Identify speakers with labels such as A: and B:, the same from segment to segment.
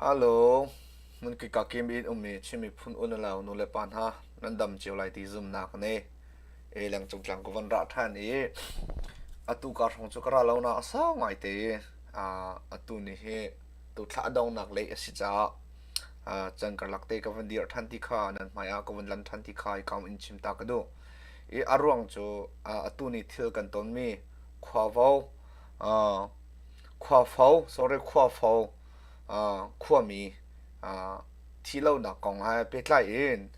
A: Halo, hmun kika kim in ummi Chin miphun unau nu le pa hna nan dam cio lai ti zumnak ka ngei. Eleng cungtlang ka von rah ṭhan i atu ka hrawng cu ka ra lonak a sau ngaite i aa atu ni hi tu thla a dongnak lei a si caah aa can karlak te ka von dir ṭhan ti kha nan hmaiah ka von lan ṭhan ti kha i kam in chim ta ka duh. i a ruang cu atu ni thil kan tonmi khuavo khuafo sorry khuafo khuami thi lonak kong he pehtlai in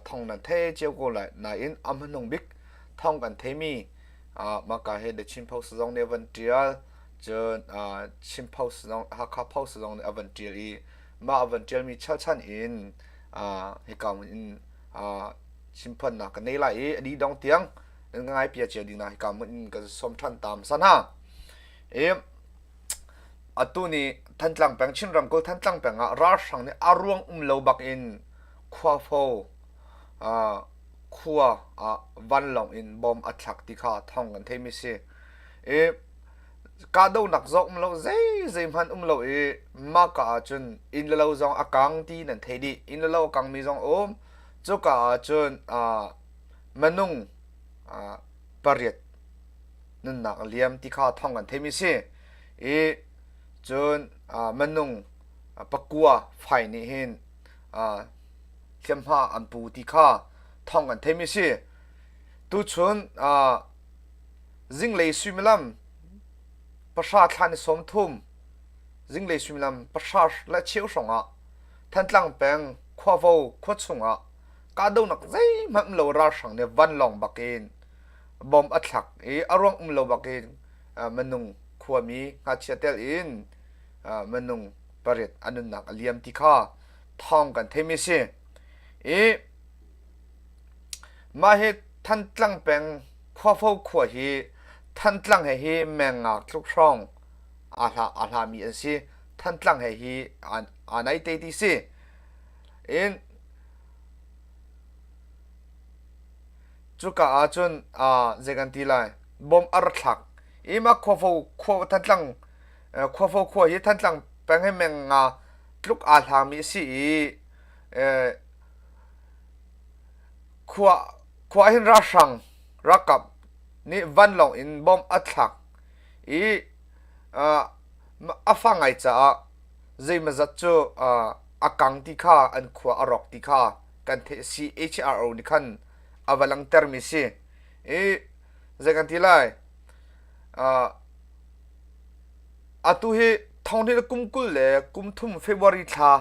A: thong nan thei cio ko lai nain a hmanung bik thong kan theimi maka he the chinpho sizong nih a van tial cun chinpho sizong hakha pho sizong nih a van tial i mah a van tialmi chalchan in hika in chimphannak ka nei lai i ani dong tiang nan ka ngai pia cia ding na hika mun in kan som than tam san ha e atu ni thantlang peng chin ram ko thantlang peng ah ralhrang nih a ruang um lo bak in khua fo uh, khua uh, vanlong in bom a thlak ti kha thong kan thei mi si e ka do nak zo um lo zei zei man um lo i ma ka ah cun in le lo zong a kang ti nan thei di in le lo kang mi zong um Cuka ah cun uh, manung uh, pariat nunnak liam ti kha thong kan theimi si i cun uh, manung uh, pakua fai nih hin uh, hliamhma an pu ti kha thong kan theimi si tu chun uh, zinglei suimilam pasha thlan som thum zinglei suimilam pasha la cheu hrong ah thantlang peng khuavo khua chungah kahdohnak zeihmanh lo ralhrang nih vanlawng bakin bom a thlak i a ruang um lo bakin minung khuami ngachia tel in minung pariat an nunnak a liam ti kha thawng kan theimi si i mah hi thantlang peng khuafo khua hi thantlang he hi mengngak tluk hrawng ahla mi an si thantlang he hi an aa nai te ti si in cuka ah cun zei kan ti lai bom ar thlak ima khuafo khua thantlang khuafo khua hi thantlang peng he meng nga tluk aa hlangmi si i khua khua hin ra hrang rakap nih vanlawng in bom a thlak i a fa ngai caah zeimazat cu a kang ti kha an khua a rawk ti kha kan theih a si HRO nih khan a va langtermi si i zei kan ti lai atu hi thonghni kum kul le kum thum February thla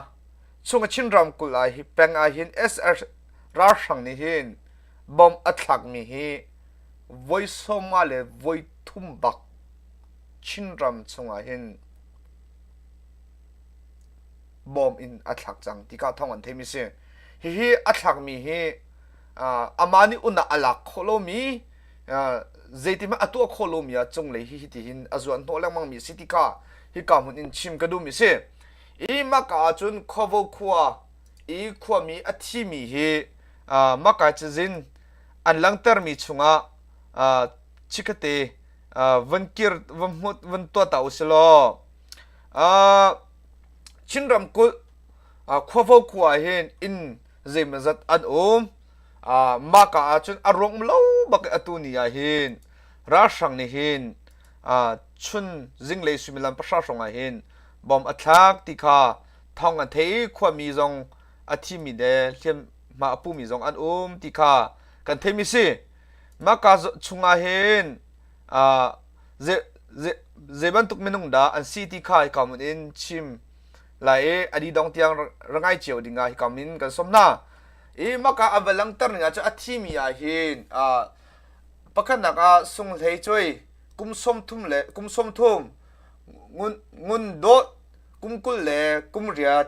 A: chung a Chin ram kul ah hi peng ah hin SS ralhrang nih hin bom a thlakmi hi voi sawma le voi thum bak Chinram chungah hin bawm in a thlak cang tika thawng an theimi si hihi a thlakmi hi amah nih un ah a lak khawh lomi zeitikhmanh a tuah khawh lomi ah cunglei hi hitihin a zuan hnawh lengmangmi si tika hika hmun in chim ka duhmi si hi maka ahcun khuavo khua i khuami a thimi hi makai cazin an langhtermi chungah chikkate van kir van hmut van tuah ta usih law Chin ramkulh khuafo khua ah hin inn zeimazat an um mah ka ahcun a ruang lo bak i atu ni ah hin ralhrang nih hin chun zinglei suimilam pahra hrawng ah hin bom a thlak ti kha thawng an thei khuami zong a thimi le hliamhma a pumi zong an um ti kha kan theimi si Maka chungah hin zei bantuk minung dah an si ti kha hika mun in chim lai i adi dong tiang rangai cio ding ah hika min kan som hna. I maka a va langter ning ahcun a thimi ah hin pakhatnak ah sunghlei cuai kum som thum le kum som thum ngun dawt kum kul le kum riat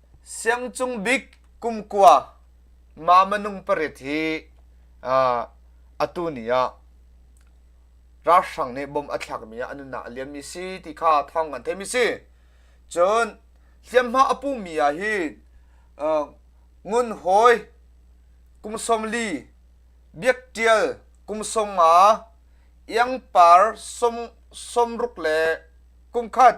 A: Siangcung bik kumkua Mamanung parit hi uh, atu ni ah ralhrang nih bom a thlakmi ah a nunnak a liammi si ti kha thawng kan theimi si cun hliamhma a pumi ah hi uh, ngun hoi kum somli biak tial kum songa iang par som somruk le kumkhat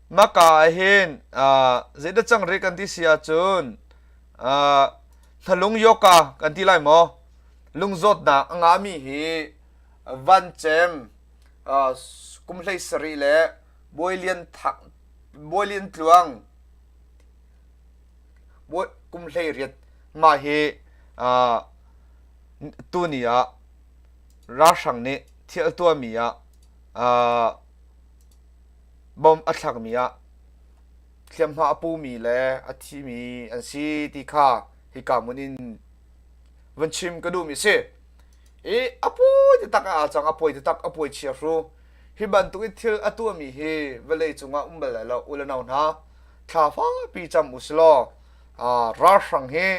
A: maka ahhin zeidah cangrih kan ti si ahcun hlalung yoka kan ti lai maw lungzawtnak a ngami hi vancem kum hlei sarih le bawi lian thak bawi lian tluang kum hlei riat ma hi tuni ah ralhrang nih thil tuahmi ah bom a thlakmi ah hliamhma a pumi le a thimi an si ti kha hika hmun in vun chim ka duhmi si i a pawi taktak a cang a pawi taktak a pawi chia hru hi bantuk in thil a tuahmi hi vawlei cungah um bal lai lo u le no hna thlafa pi cam u silaw ralhrang hi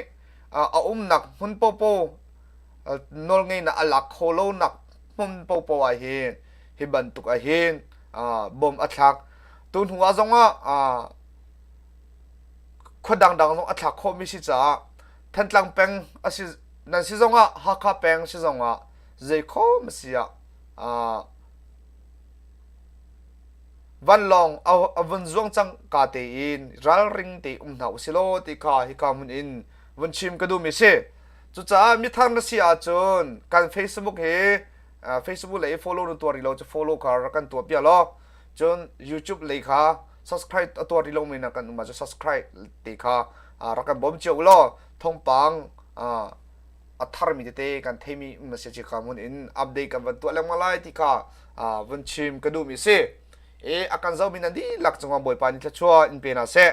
A: a umnak hmun popo nawlngeihnak a lak kho lonak hmun paohpaoh ah hin hi bantuk ah hin bom a thlak tu hnu ah zong ah khua dangdang zong a thlak khawhmi si caah Thantlang peng a si nan si zong ah Hakha peng si zong ah zei khawm a si ah vanlawng a vun zuang cang ka te in ralring te um hna u si law ti kha hika hmun in vun chim ka duhmi si Cucaah mithar na si ahcun kan Facebook hi Facebook lei follow na tuar rih lo cu follow kha rak kan tuah piah law cun YouTube lei kha subscribe a tuar rih lomi na kan um ah subscribe te kha rak kan bawm cio law thongpang a tharmi tete kan theimi um si kha mun in update kan van tuah lengmang lai ti kha van chim ka duhmi si i a kan zomi nan dihlak cungah bawipa ni thla chua in pe na seh